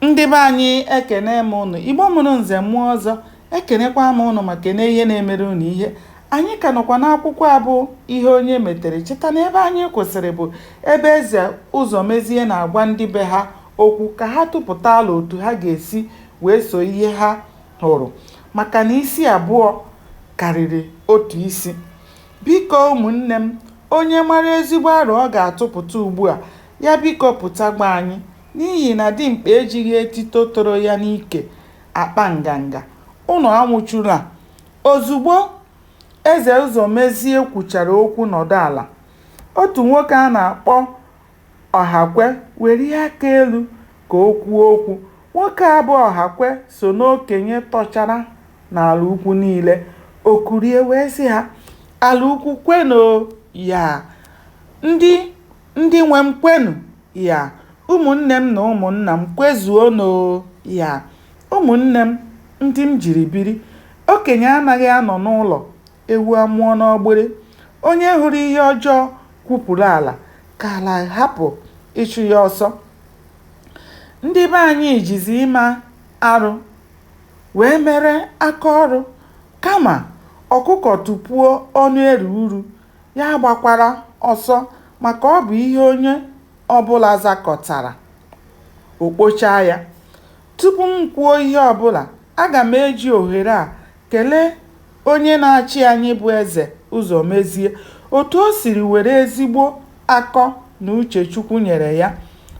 Ndị be anyị ekene m ụnụ, Igbo mụrụ nze mụọ ọzọ, ekenekwa m ụnụ ma kene ihe na-emere ụnụ ihe. Anyị ka nọkwa n'akwụkwọ a bụ Ihe Onye Metere. Cheta na ebe anyị kwụsịrị bụ ebe Eze Ụzọmezie na-agwa ndị be ha okwu ka ha tụpụta alo otu ha ga-esi wee so ihe ha hụrụ maka na isi abụọ karịrị otu isi. Biko ụmụnne m, onye mara ezigbo aro ọ ga-atụpụta ugbu a, ya biko pụta gwa anyị. N'ihi na dimkpa ejighị etito toro ya n'ike akpa nganga, ụnụ anwụchula. Ozugbo Eze Ụzọmezie kwuchara okwu nọdụ ala, otu nwoke a na-akpọ Ọhakwe welie aka elu ka o kwuo okwu. Nwoke a bụ Ọhakwe so n'okenye tọchara n'ala ukwu niile. O kulie wee sị ha, Ala ukwu kwenụ o! Yaa! Ndị. Ndị nwe m kwenụ, ya. Ụmụnne m na ụmụnna m kwezuonụ o, ya. Ụmụnne m, ndị m jiri biri. Okenye anaghị anọ n'ụlọ, ewu amụọ n'ọgbịrị. Onye hụrụ ihe ọjọọ kwupụrụ ala, ka ala hapụ ịchụ ya ọsọ. Ndị be anyị jizi ime arụ wee mere aka ọrụ. Kama ọkụkọ tụpuo ọnụ eri uru, Ya gbakwara ọsọ maka ọ bụ ihe onye ọ bụla zakọtara, o kpochaa ya. Tupu m kwuo ihe ọ bụla, aga m eji ohere a kelee onye na-achị anyị bụ Eze Ụzọmezie otu o siri were ezigbo akọ na uche Chukwu nyere ya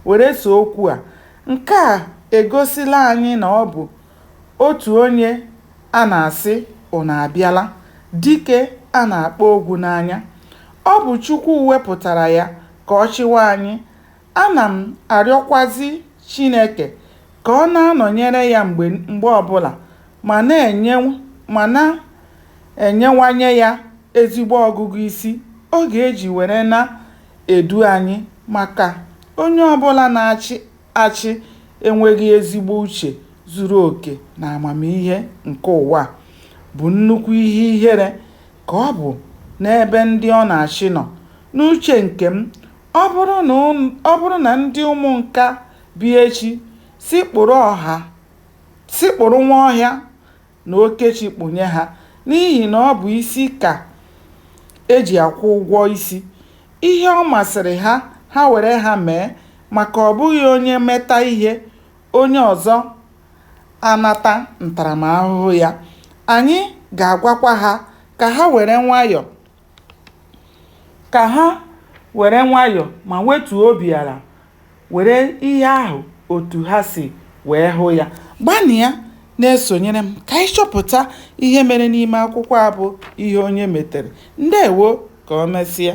were soo okwu a. Nke a egosila anyị na ọ bụ Otu onye a na-asị ụnụ abịala, dike a na-akpọ ogwu n'anya. Ọ bụ Chukwu wepụtara ya ka ọ chịwa anyị. Ana m arịọkwazị Chineke ka ọ na-anọnyere ya mgbe mgbe ọbụla ma na-enyewanye ya ezigbo ọgụgụ isi ọ ga-eji were na-edu anyị maka onye ọbụla na-achị achị enweghị ezigbo uche zuru oke na amamihe nke ụwa bụ nnukwu ihe ihere ka ọ bụ n'ebe ndị ọ na-achị nọ. N'uche nke m, ọ bụrụ na ndị Ụmụnka bịa echi sị kpụrụ ọha sị kpụrụ Nwaọhịa na Okechi kpụnye ha n'ihi na ọ bụ isi ka e ji akwụ ụgwọ isi. Ihe ọ masịrị ha, ha were ha mee maka ọ bụghị onye meta ihe, onye ọzọ anata ntaramahụhụ ya. Anyị ga-agwakwa ha ka ha were nwayọ. ka ha were nwayọ ma wetuo obi ala were ihe ahụ otu ha si wee hụ ya. Gbanịa na-esonyere m ka anyị chọpụta ihe mere n'ime akwụkwọ a bụ Ihe Onye Metere. Ndewo! Ka o mesịa.